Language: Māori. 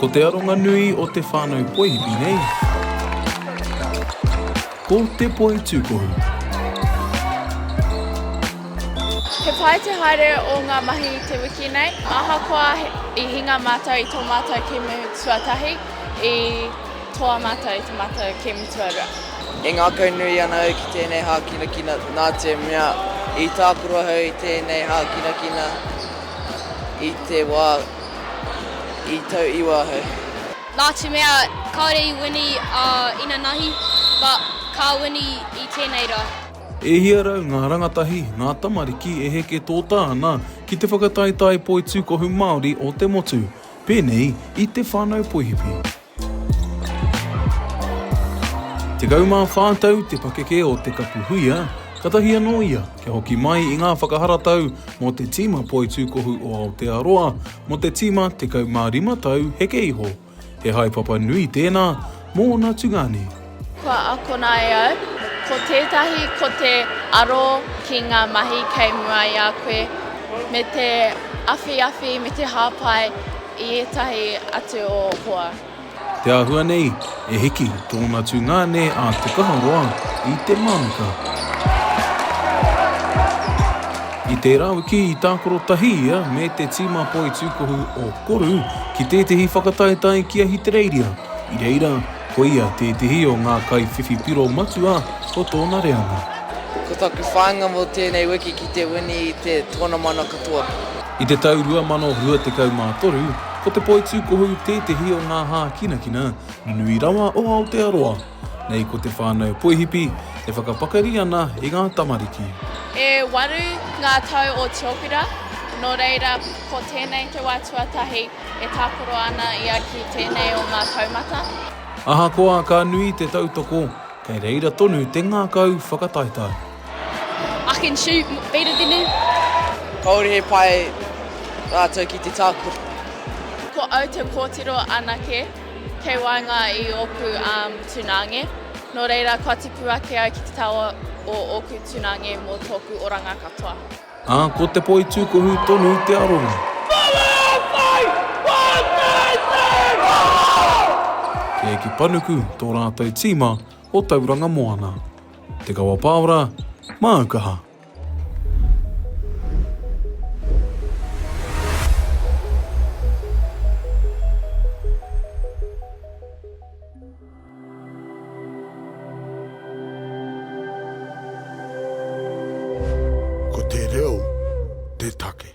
Ko te aronga nui o te whānau poihipi nei, ko te poi tūkohu. He pai te haere o ngā mahi i te wiki nei, ahakoa i hinga mātou i tō mātou kēmu tuatahi, i toa mātou i tō mātou kēmu tuarua. E ngākau nui ana au ki tēnei hākinakina nātemea i tākaro au i tēnei hākinakina. I te wā i tau iwa ahau. Nā te mea kāore i wini a inanahi, but ka wini i tēnei rā. E hia rau ngā rangatahi, ngā tamariki e heke tōtā ana ki te whakataetae poitūkohu Māori o te motu, pēnei i te whānau poihipi. Tekau mā whā tau te pakeke o Te Kapu Huia, katahi anō ia kia hoki mai i ngā whakaharatau mō te tīma poitūkohu o Aotearoa mō te tīma 15 tau heke iho. He haepapa nui tēnā mōna tungāne. Kua akona e au, ko tētahi ko te aro ki ngā mahi kei mua i a koe, me te awhiawhi, me te hāpai i ētahi atu o hoa. Te āhua nei, e hiki tōna tungāne a Te Kaharoa i te mānuka. I tērā wiki i tākaro tahi ia me te tīma poitūkohu o Koru ki tētahi whakataetae ki Ahitereiria, i reira, Ko ia tētehi o ngā kaiwhiwhi piro matua o tōna reanga. Ko taku whāinga mō tēnei wiki ki te wini i te tōna mana katoa. I te tau 2023, ko Te Poitūkohu tētehi o ngā hākinakina nui rawa o Aotearoa. Nei ko te whānau Poihipi e whakapakari ana i ngā tamariki. E waru ngā tau o Te Ōpera, nō reira, ko tēnei te wā tuatahi E tākaro ana ia ki tēnei o ngā taumata. Ahakoa ka nui te tautoko, kei reira tonu te ngākau whakataetae. I can shoot better than him. Kāore he pai rātou ki te tākaro. Ko au te kōtiro anake kei waenga i ōku tūnānge, nō reira kua tipu ake au ki te taua o ōku tūnānge mō tōku oranga katoa. Ā, ko te poi tūkohu tonu te aronga. Kē ki Panuku tō rātou tīma o Tauranga Moana. Te Kawa Pāora, māu kaha! Ko te reo te take.